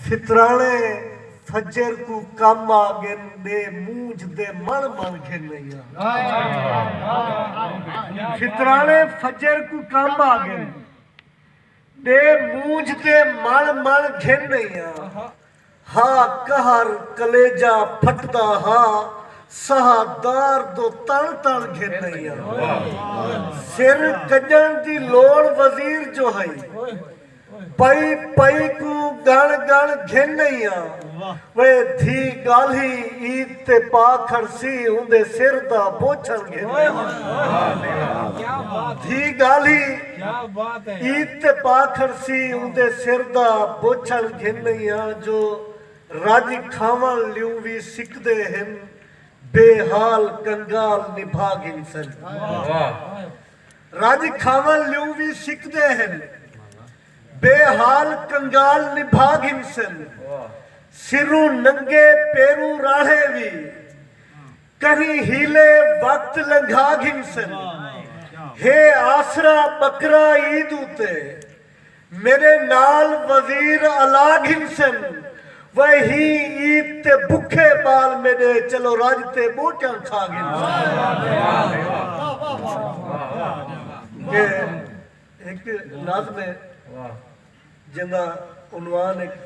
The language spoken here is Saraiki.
ستراݨے فجر کوں کم آ ڳن ݙے مونجھ دے مݨ مݨ گھن ائیاں۔ ستراݨے فجر کوں کم آ ڳن ݙے مونجھ دے مݨ مݨ گھن ائیاں۔ ہا قہر کلیجہ پھٹدا ہا سہا دار دو تݨ تݨ گھن ائیاں۔ سر کڄݨ دی لوڑ وزیر جو ہئی۔ پئی پئی کوں گݨ گݨ گھن ڳئیاں۔ وے دھی ڳالھی عید تے پا کھڑسی اوندے سر دا بوچھݨ گھن ڳئیاں۔ دھی ڳالھی عید تے پا کھڑسی اوندے سر دا بوچھݨ گھن ڳئیاں جو رڄ کھاوݨ لیوں وی سکدے ہن بے حال کنگال نبھا گھنسن۔ رڄ کھاوݨ لیوں وی سکدے ہن۔ بے حال کنگال نبھا گھنسن۔ سروں ننگے پیروں راہڑے وی۔ کہیں حیلے وقت لنگھا گھنسن۔ ہے آسرا ٻکرا عید اتے۔ میڈے نال وزیر الا گھنسن وے ہین عید تے بکھے بال میڈے چلو رج تے بوٹیاں کھا گھنسن۔